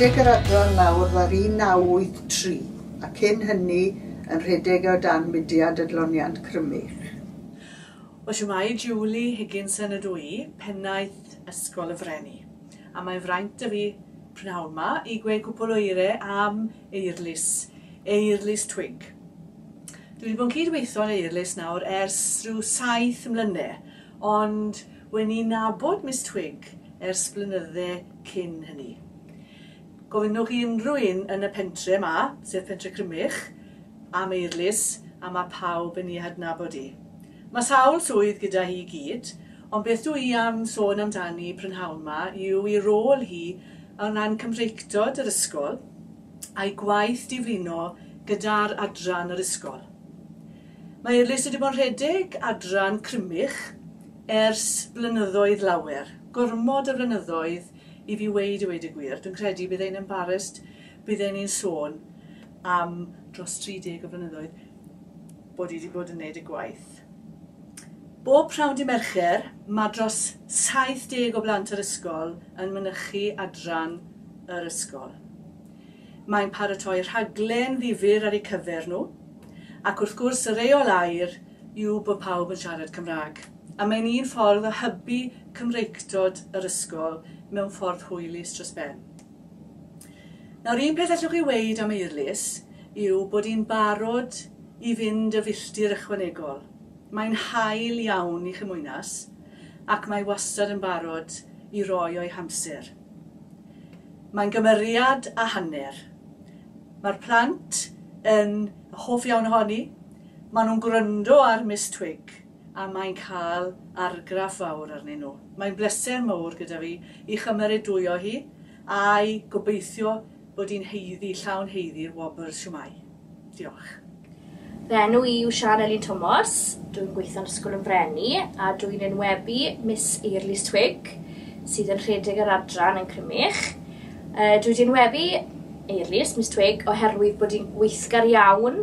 rhedeg yr adran nawr ddar 1983 a cyn hynny yn rhedeg e o dan mudiad Adloniant Crymych. O shwmae, Julie Higginson ydw i, Pennaeth Ysgol y Freni, a mae'n fraint 'da fi prynhawn 'ma i gweu cwpwl o eire am Eirlys, Eirlys Twig. Dwi wedi bod yn cyd-weithio ar Eirlys nawr ers rhyw saith mlyne, ond wen i'n nabod Miss Twig ers blynydde cyn hynny. Gofynnwch i unrhyw un yn y pentre 'ma, sef Pentre Crymych, am eirlys, a mae pawb yn ei hadnabod hi. Mae sawl swydd gyda hi i gyd, ond beth dw i am sôn amdani prynhawn 'ma yw ei rôl hi o ran Cymreictod yr ysgol a'i gwaith diflino gyda'r adran yr ysgol. Mae Eirlys wedi bod yn rhedeg adran Crymych ers blynyddoedd lawer, gormod o flynyddoedd, I fi weud i weud y gwir, dwi'n credu bydd e'n embarrassed, bydd e'n un sôn am dros 30 o flynyddoedd bod i wedi bod yn neud y gwaith. Bob prawn di Mercher, mae dros 70 o blant yr ysgol yn mynychu adran yr ysgol. Mae'n paratoi rhaglen ddifyr ar eu cyfer nhw, ac wrth gwrs y reol air yw bod pawb yn siarad Cymraeg, a mae'n un ffordd o hybu Cymreictod yr ysgol mewn ffordd hwylus dros ben. Nawr, un peth allwch chi weud am Eirlys yw bod hi'n barod i fynd y filltir ychwanegol. Mae'n hael iawn i Chymwynas, ac mae wastad yn barod i roi o'i hamser. Mae'n gymeriad a hanner. Mae'r plant yn hoff iawn ohoni, Maen nhw'n gwrando ar Miss Twig a mae'n cael argraff fawr arnyn nhw. Mae'n bleser mawr gyda fi i chymeradwyo hi a'i gobeithio bod hi'n haeddu, llawn haeddu i'r Wobbers siwmai. Diolch. Fy enw i yw Siân Elin Tomos, dw i'n gweithio'n Ysgol yn Freni a dw i'n enwebu Miss Eirlys Twig sydd yn rhedeg yr adran yn Crymych. Dw i wedi enwebu Eirlys, Miss Twig, oherwydd bod hi'n weithgar iawn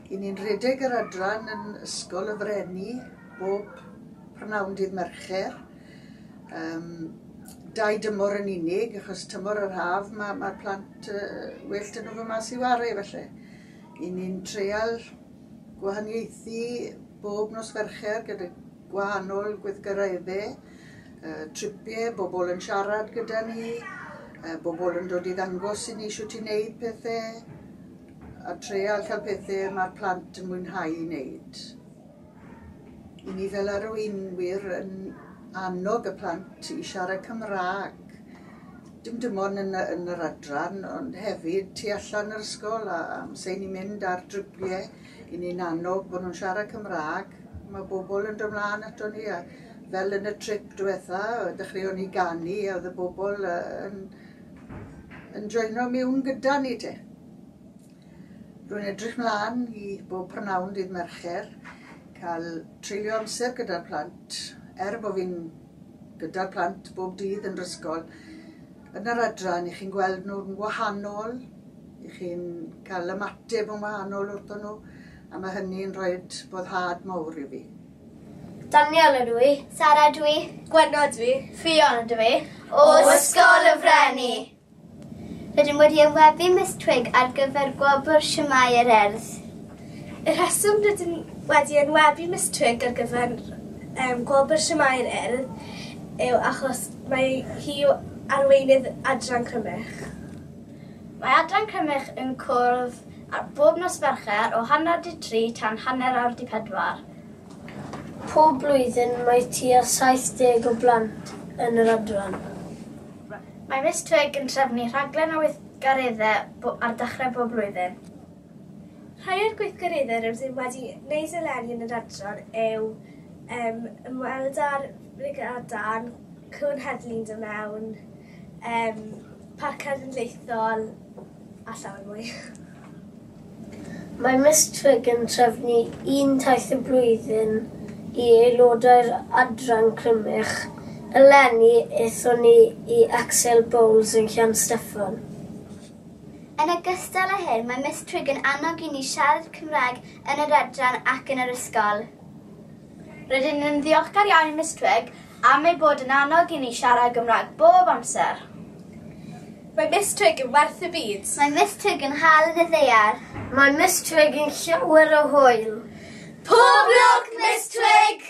Y ni'n rhedeg yr adran yn Ysgol y Freni bob prynhawn dydd Mercher. Um, dau dymor yn unig, achos tymor yr haf mae'r ma, plant uh, well dyn nhw fy mas i wario felly. I ni'n treial gwahaniaethu bob nos Fercher gyda gwahanol gweithgareddau, uh, tripiau, bobl yn siarad gyda ni, uh, bobl yn dod i ddangos i ni sut i wneud pethau, A treial cael pethe mae'r plant yn mwynhau i wneud. I ni fel arweinwyr yn annog y plant i siarad Cymraeg. Dim dim ond yn, yn yr adran, ond hefyd tu allan yr ysgol a amser ni'n mynd ar drybiau, i ni'n annog bod nhw'n siarad Cymraeg. Mae bobl yn dod mlaen ato ni a fel yn y trip diwetha, dechreuon ni ganu a oedd y bobl yn yn joino mewn gyda ni te. Rwy'n edrych mlaen i bob prynhawn dydd Mercher cael treulio amser gyda'r plant, er bod fi'n gyda'r plant bob dydd yn yr ysgol. Yn yr adran, i chi'n gweld nhw'n wahanol, i chi'n cael ymateb yn wahanol wrthyn nhw, a mae hynny'n rhoi boddhad mawr i fi. Daniel ydw i. Sara ydw i. Gwenno ydw i. Ffion ydw i. O Ysgol y Frenni! Rydym wedi awyfu Miss Twig ar gyfer gwobr Shwmae yr Urdd. Y rheswm rydym wedi enwebu Miss Twig ar gyfer um, gwobr Shwmae yr Urdd yw achos mae hi yw arweinydd adran Crymych. Mae adran Crymych yn cwrdd ar bob nos Fercher o hanner di tri tan hanner awr di pedwar. Pob blwyddyn mae tua 70 o blant yn yr adran. Mae Miss Twig yn trefnu rhaglen o weithgareddau ar dechrau bob blwyddyn. Rhai o'r gweithgareddau rydym wedi wneud eleni yn yr adran yw yym ymweld â'r Brigadau'n Cŵn Heddlu'n dod mewn, yym Parc Cenedlaethol, a llawer mwy. Mae Miss Twig yn trefnu un taith y blwyddyn i aelodau'r Adran Crymych, eleni aethon ni i Axel Bowles yn Llansteffan. Yn ogystal â hyn, mae Miss Twig yn annog i ni siarad Cymraeg yn yr Adran ac yn yr ysgol. Rydyn yn ddiolchgar iawn i Miss Twigg am ei bod yn annog i ni siarad Gymraeg bob amser. Mae Miss Twigg yn werth y byd. Mae Miss Twigg yn hel yn y ddaear. Mae Miss Twigg yn llawer o hwyl. Pob lwc, Miss Twigg!